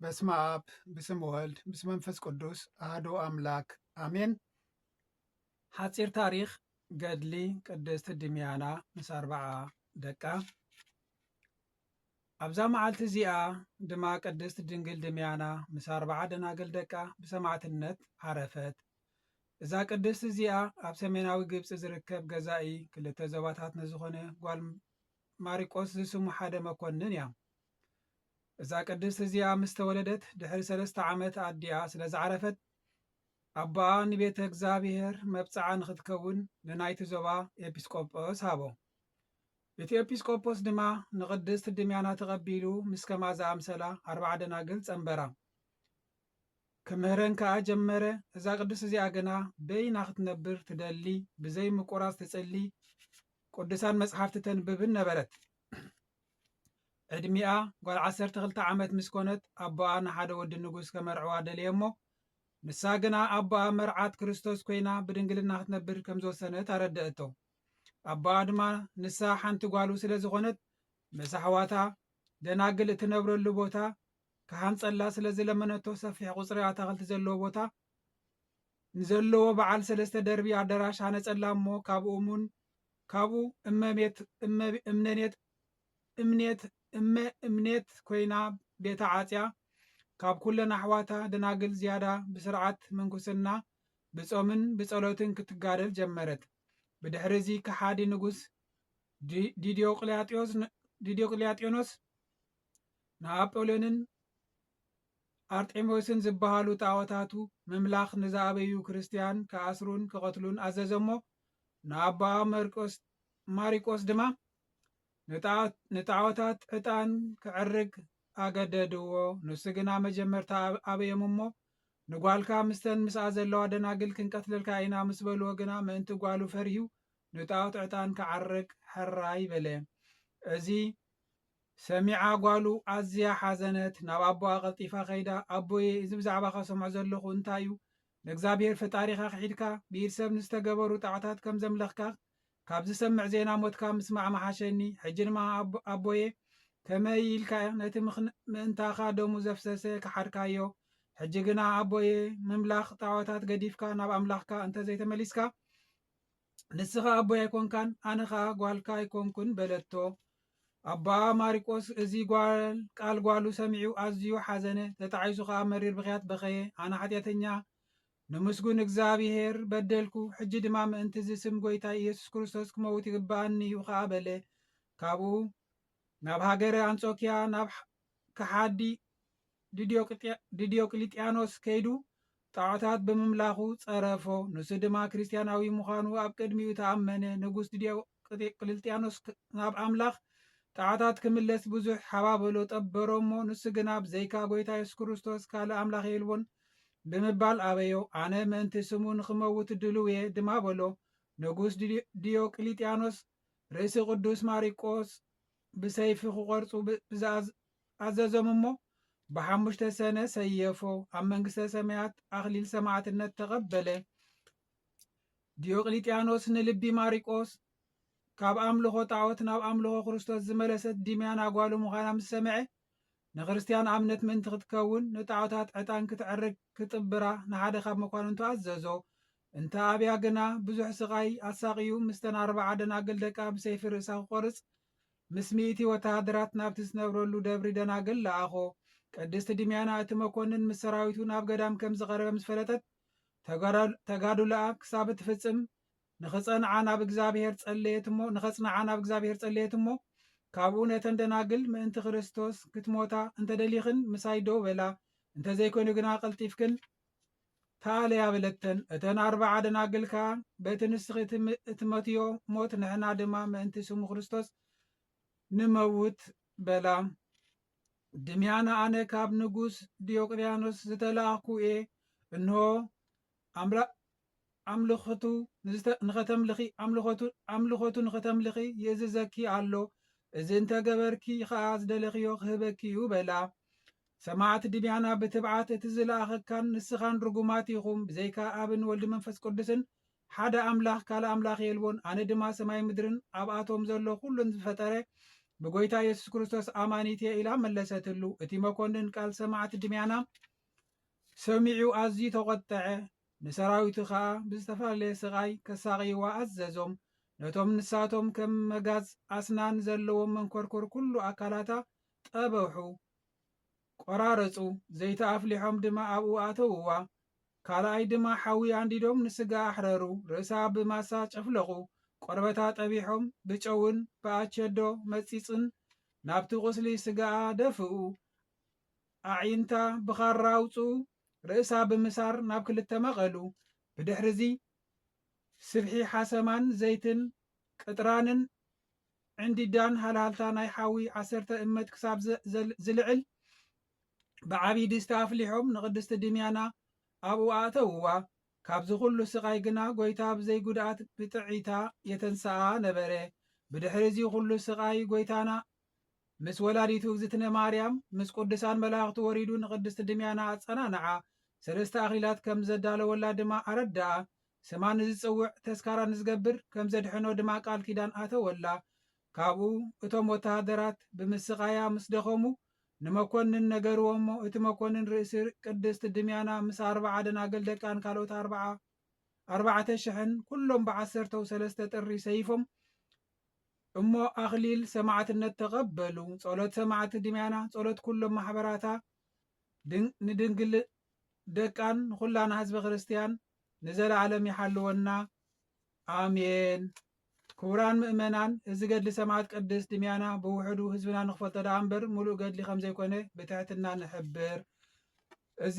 በስመ አብ ብስም ወልድ ምስ መንፈስ ቅዱስ አሐዱ አምላክ አሜን። ሓፂር ታሪክ ገድሊ ቅድስት ድምያና ምስ ኣርባዓ ደቃ። ኣብዛ መዓልቲ እዚኣ ድማ ቅድስት ድንግል ድምያና ምስ ኣርባዓ ደናግል ደቃ ብሰማዕትነት ዓረፈት። እዛ ቅድስት እዚኣ ኣብ ሰሜናዊ ግብፂ ዝርከብ ገዛኢ ክልተ ዞባታት ንዝኾነ ጓል ማሪቆስ ዝስሙ ሓደ መኮንን እያ። እዛ ቅድስት እዚኣ ምስ ተወለደት ድሕሪ ሰለስተ ዓመት ኣዲኣ ስለ ዝዓረፈት ኣቦኣ ንቤተ እግዚኣብሔር መብጽዓ ንኽትከውን ንናይቲ ዞባ ኤጲስቆጶስ ሃቦ። እቲ ኤጲስቆጶስ ድማ ንቕድስት ድምያና ተቐቢሉ ምስ ከማ ዝኣምሰላ ኣርባዓ ደናግል ጸንበራ ክምህረን ከኣ ጀመረ እዛ ቅድስት እዚኣ ግና በይና ክትነብር ትደሊ ብዘይ ምቁራጽ ትጽሊ ቅዱሳን መጽሓፍቲ ተንብብን ነበረት ዕድሚኣ ጓል ዓሰርተ ክልተ ዓመት ምስ ኮነት ኣቦኣ ንሓደ ወዲ ንጉስ ከመርዕዋ ደለየ እሞ ንሳ ግና ኣቦኣ መርዓት ክርስቶስ ኮይና ብድንግልና ክትነብር ከም ዝወሰነት ኣረደእቶ። ኣቦኣ ድማ ንሳ ሓንቲ ጓሉ ስለ ዝኾነት ምስ ኣሕዋታ ደናግል እትነብረሉ ቦታ ክሃንጸላ ስለ ዝለመነቶ ሰፊሕ ቁጽሪ ኣታኽልቲ ዘለዎ ቦታ ንዘለዎ በዓል ሰለስተ ደርቢ ኣዳራሽ ሃነጸላ እሞ ካብኡ እሙን ካብኡ እመቤት እመ እምነኔት እምኔት እመ እምኔት ኮይና ቤታ ዓጽያ ካብ ኩለን ኣሕዋታ ደናግል ዝያዳ ብስርዓት ምንኩስና ብጾምን ብጸሎትን ክትጋደል ጀመረት። ብድሕሪ እዚ ከሓዲ ንጉስ ዲ ዲዲዮቅልያጥዮስ ን ዲዲዮቅልያጥዮኖስ ንኣጶልዮንን ኣርጤምዮስን ዝበሃሉ ጣኦታቱ ምምላኽ ንዝኣበዩ ክርስትያን ክኣስሩን ክቐትሉን ኣዘዘ እሞ ንኣባ መርቆስ ማሪቆስ ድማ ንጣዖታት ዕጣን ክዕርግ ኣገደድዎ። ንሱ ግና መጀመርታ ኣበዮም እሞ ንጓልካ ምስተን ምስኣ ዘለዋ ደናግል ክንቀትለልካ ኢና ምስ በልዎ ግና ምእንቲ ጓሉ ፈሪሁ ንጣዖት ዕጣን ክዓርግ ሕራይ በለ። እዚ ሰሚዓ ጓሉ ኣዝያ ሓዘነት። ናብ ኣቦኣ ቀልጢፋ ከይዳ ኣቦየ እዚ ብዛዕባኻ ሰምዖ ዘለኹ እንታይ'ዩ? ንእግዚኣብሄር ፈጣሪኻ ክሒድካ ብኢድ ሰብ ንዝተገበሩ ጣዕታት ከም ዘምለኽካ ካብ ዝሰምዕ ዜና ሞትካ ምስማዕ ምሓሸኒ ሕጂ ድማ ኣቦ ኣቦየ ከመይ ኢልካ ነቲ ምእንታኻ ደሙ ዘፍሰሰ ክሓድካዮ ሕጂ ግና ኣቦየ ምምላኽ ጣዖታት ገዲፍካ ናብ ኣምላኽካ እንተዘይተመሊስካ ንስኻ ኣቦይ ኣይኮንካን ኣነ ኸኣ ጓልካ ኣይኮንኩን በለቶ። ኣቦኣ ማሪቆስ እዚ ጓል ቃል ጓሉ ሰሚዑ ኣዝዩ ሓዘነ፣ ተጣዒሱ ኸኣ መሪር ብኽያት በኸየ። ኣነ ሓጢኣተኛ ንምስጉን እግዚኣብሄር በደልኩ፣ ሕጂ ድማ ምእንትዚ ስም ጐይታይ ኢየሱስ ክርስቶስ ክመውት ይግብኣኒ እዩ ኸኣ በለ። ካብኡ ናብ ሃገረ ኣንጾክያ ናብ ከሓዲ ድዲዮቅሊጥያኖስ ከይዱ ጣዖታት ብምምላኹ ጸረፎ ንሱ ድማ ክርስትያናዊ ምዃኑ ኣብ ቅድሚኡ ተኣመነ ንጉስ ድዲዮቅሊጥያኖስ ናብ ኣምላኽ ጣዖታት ክምለስ ብዙሕ ሓባበሎ ጠበሮ እሞ ንሱ ግና ብዘይካ ጎይታ የሱስ ክርስቶስ ካልእ ኣምላኽ የልቦን ብምባል ኣበዮ ኣነ ምእንቲ ስሙ ንኽመውት ድልው እየ ድማ በሎ ንጉስ ድዲዮቅሊጥያኖስ ርእሲ ቅዱስ ማሪቆስ ብሰይፊ ክቆርጹ ብዝኣዝ ኣዘዞም እሞ ብሓሙሽተ ሰነ ሰየፎ ኣብ መንግስተ ሰማያት ኣኽሊል ሰማዕትነት ተቐበለ። ዲዮቅሊጥያኖስ ንልቢ ማሪቆስ ካብ ኣምልኾ ጣዖት ናብ ኣምልኾ ክርስቶስ ዝመለሰት ድምያን ኣጓሉ ምዃና ምስ ሰምዐ ንክርስትያን ኣምነት ምእንቲ ክትከውን ንጣዖታት ዕጣን ክትዕርግ ክጥብራ ንሓደ ካብ መኳንንቱ ኣዘዞ። እንተ ኣብያ ግና ብዙሕ ስቓይ ኣሳቕዩ ምስተን ኣርባዓ ደናግል ደቃ ብሰይፊ ርእሳ ክቆርጽ ምስ ሚእቲ ወተሃደራት ናብቲ ዝነብረሉ ደብሪ ደናግል ለኣኾ። ቅድስቲ ድምያና እቲ መኮንን ምስ ሰራዊቱ ናብ ገዳም ከም ዝቐረበ ምስ ፈለጠት፣ ተጋድሎኣ ክሳብ እትፍጽም ንኽጸንዓ ናብ እግዚኣብሔር ጸለየት እሞ ንኸጽንዓ ናብ እግዚኣብሔር ጸለየት እሞ ካብኡ ነተን ደናግል ምእንቲ ክርስቶስ ክትሞታ እንተደሊኽን ምሳይ ደው በላ እንተዘይኮይኑ ግና ቀልጢፍክን ታልያ በለተን። እተን ኣርብዓ ደናግል ከኣ በቲ ንስኺ እትመትዮ ሞት ንሕና ድማ ምእንቲ ስሙ ክርስቶስ ንመውት በላ። ድምያና ኣነ ካብ ንጉስ ዲዮቅልያኖስ ዝተላእኩ እየ እንሆ ኣምልኾቱ ንኸተምልኺ ኣምልኾቱ ኣምልኾቱ ንኸተምልኺ ይእዝዘኪ ኣሎ፣ እዚ እንተ ገበርኪ ኸኣ ዝደለኽዮ ኽህበኪ እዩ በላ። ሰማዕት ድምያና ብትብዓት እቲ ዝለኣኸካን ንስኻን ርጉማት ኢኹም፣ ብዘይካ ኣብን ወልድን መንፈስ ቅዱስን ሓደ ኣምላኽ ካልእ ኣምላኽ የልቦን፣ ኣነ ድማ ሰማይን ምድርን ኣብኣቶም ዘሎ ዅሉን ዝፈጠረ ብጐይታ የሱስ ክርስቶስ ኣማኒት እየ ኢላ መለሰትሉ። እቲ መኰንን ቃል ሰማዕት ድምያና ሰሚዑ ኣዝዩ ተቖጠዐ፣ ንሰራዊቱ ከኣ ብዝተፈላለየ ስቓይ ከሳቕይዋ ኣዘዞም፣ ነቶም ንሳቶም ከም መጋዝ ኣስናን ዘለዎም መንኮርኮር ኩሉ ኣካላታ ጠበሑ፣ ቆራረጹ፣ ዘይቲ ኣፍሊሖም ድማ ኣብኡ ኣተውዋ፣ ካልኣይ ድማ ሓዊ ኣንዲዶም ንስጋኣ ኣሕረሩ፣ ርእሳ ብማሳ ጨፍለቑ፣ ቆርበታ ጠቢሖም ብጨውን ብኣቸዶ መጺጽን ናብቲ ቁስሊ ስጋኣ ደፍኡ፣ ኣዒንታ ብኻራ ኣውጽኡ፣ ርእሳ ብምሳር ናብ ክልተ መቐሉ። ብድሕርዚ ስብሒ ሓሰማን ዘይትን ቅጥራንን ዕንዲዳን ሃልሃልታ ናይ ሓዊ ዓሰርተ እመት ክሳብ ዝልዕል ብዓብዪ ድስቲ ኣፍሊሖም ንቅድስቲ ድምያና ኣብኡ ኣእተውዋ። ካብዚ ኩሉ ስቓይ ግና ጐይታ ብዘይ ጉድኣት ብጥዕይታ የተንስኣ ነበረ። ብድሕሪ እዚ ኩሉ ስቓይ ጐይታና ምስ ወላዲቱ እግዝእትነ ማርያም ምስ ቅዱሳን መላእኽቲ ወሪዱ ንቅድስቲ ድምያና ኣጸናንዓ፣ ሰለስተ ኣኽሊላት ከም ዘዳለወላ ድማ ኣረድኣ፣ ስማ ንዝጽውዕ ተስካራ ንዝገብር ከም ዘድሕኖ ድማ ቃል ኪዳን ኣተወላ። ካብኡ እቶም ወተሃደራት ብምስቓያ ምስ ደኸሙ ንመኮንን ነገርዎ እሞ እቲ መኮንን ርእሲ ቅድስቲ ድምያና ምስ ኣርብዓ ደናግል ደቃን ካልኦት ኣርብዓ ኣርባዕተ ሽሕን ኩሎም ብዓሰርተው ሰለስተ ጥሪ ሰይፎም እሞ ኣኽሊል ሰማዕትነት ተቐበሉ። ጸሎት ሰማዕቲ ድምያና፣ ጸሎት ኩሎም ማሕበራታ፣ ንድንግል ደቃን ንኹላና ህዝበ ክርስቲያን ንዘለዓለም ይሓልወና። ኣሜን። ክቡራን ምእመናን እዚ ገድሊ ሰማዕት ቅድስት ድምያና ብውሕዱ ህዝብና ንክፈልጦ ደኣ እምበር ሙሉእ ገድሊ ከም ዘይኮነ ብትሕትና ንሕብር። እዚ